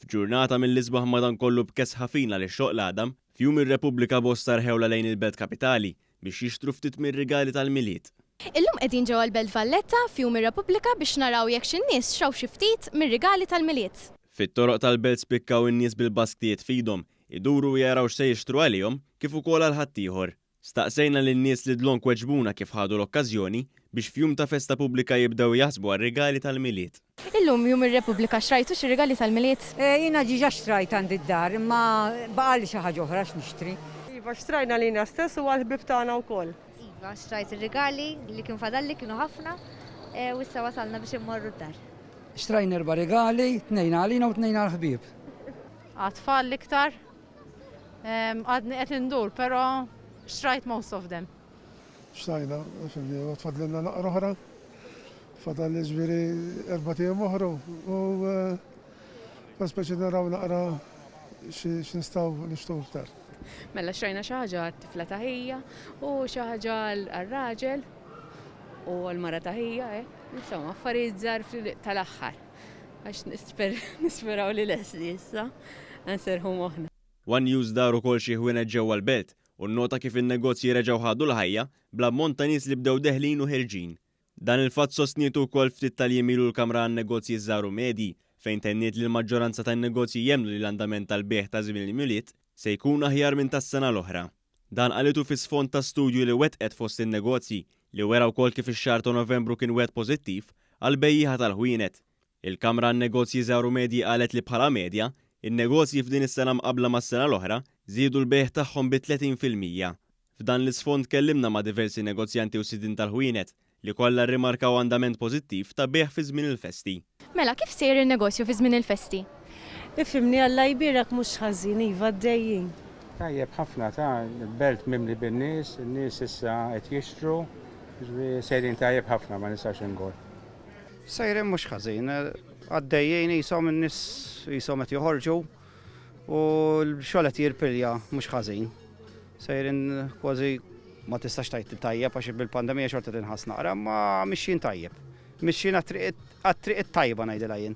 F'ġurnata mill-isbaħ madankollu b'kesħa fina li xoqq l-għadam, f'Jum ir-Repubblika bosta rħewlha lejn il-Belt Kapitali biex jixtru ftit mir-rigali tal-Milied. Illum qegħdin ġewwa l-Belt Valletta f'Jum ir-Repubblika biex naraw jekk xi nies xtraw xi ftit mir-rigali tal-Milied. Fit-toroq tal-Belt spikkaw in-nies bil-basktijiet f'idhom, iduru u jaraw x'se jixtru għalihom kif ukoll għal ħaddieħor. Staqsejna lin-nies li dlonk weġbuna kif ħadu l-okkażjoni biex f'jum ta' festa pubblika jibdew jaħsbu għar-rigali tal-Milied. Illum jum ir-Repubblika, xtrajtux ir-rigali tal-Milied? Jiena diġà xtrajt għandi d-dar, imma baqgħali xi ħaġa oħra x'nixtri. Iva, xtrajna lilna stess u għall-ħbieb tagħna wkoll. Iva, xtrajt ir-rigali li kien fadalli, kienu ħafna, u issa wasalna biex immorru d-dar. Xtrajna erba' rigali, tnejn għalina u tnejn għall-ħbieb. Għat-tfal l-iktar, Għadni qed indur, però xtrajt most of them. Xtajna, fimni, u tfadlilna naqra oħra. Fadal ġifieri erba' tiem oħra u kont speċi naraw naqra x'nistgħu nixtru iktar. Mela xtrajna xi ħaġa għat-tifla ta' ħija u xi ħaġa għar-raġel u għall-mara ta' ħija, insomma affarijiet żgħar tal-aħħar. Għax nisperaw li lest li issa nserrħu moħħna. One News dar ukoll xi ħwienet ġewwa l-belt u nnota kif in-negozji reġgħu ħadu l-ħajja bl-ammont ta' nies li bdew deħlin u ħerġin. Dan il-fatt sostnietu wkoll ftit tal-jiem ilu l-Kamra għan-Negozji Żgħar u Medji fejn tenniet li l-maġġoranza tan-negozji jemmnu li l-andament tal-bejgħ ta' żmien il-Mjulied se jkun aħjar minn tas-sena l-oħra. Dan qalitu fi sfond ta' studju li wettqet fost in-negozji li wera wkoll kif ix-xahar ta' Novembru kien wieħed pożittiv għall-bejjiegħa tal-ħwienet. Il-Kamra għan-Negozji Żgħar u Medji qalet li bħala medja, in-negozji f'din is-sena mqabbla mas-sena l-oħra, żiedu l-bejgħ tagħhom bi 30 fil-mija. F'dan l-isfond tkellimna ma' diversi negozjanti u sidien tal-ħwienet li kollha rrimarkaw andament pożittiv ta' bejgħ fi żmien il-festi. Mela, kif sejjer in-negozju fi żmien il-festi? Ifhimni Alla jbierek mhux ħażin, iva għaddejjin. Tajjeb ħafna ta, belt mimli bin-nies, in-nies issa qed jixtru, jiġifieri sejrin tajjeb ħafna ma nistax ingur. Sejrin mhux ħażin, għaddejjin qishom in-nies qishom qed joħorġu. U l-xogħol qed jirpilja mhux ħażin. Sejrin kważi ma tistax tajt tajjeb għax bil-pandemija xorta tinħass naqra, ma mixjin tajjeb. Mixjin għat-triq it-tajba ngħidilha jien.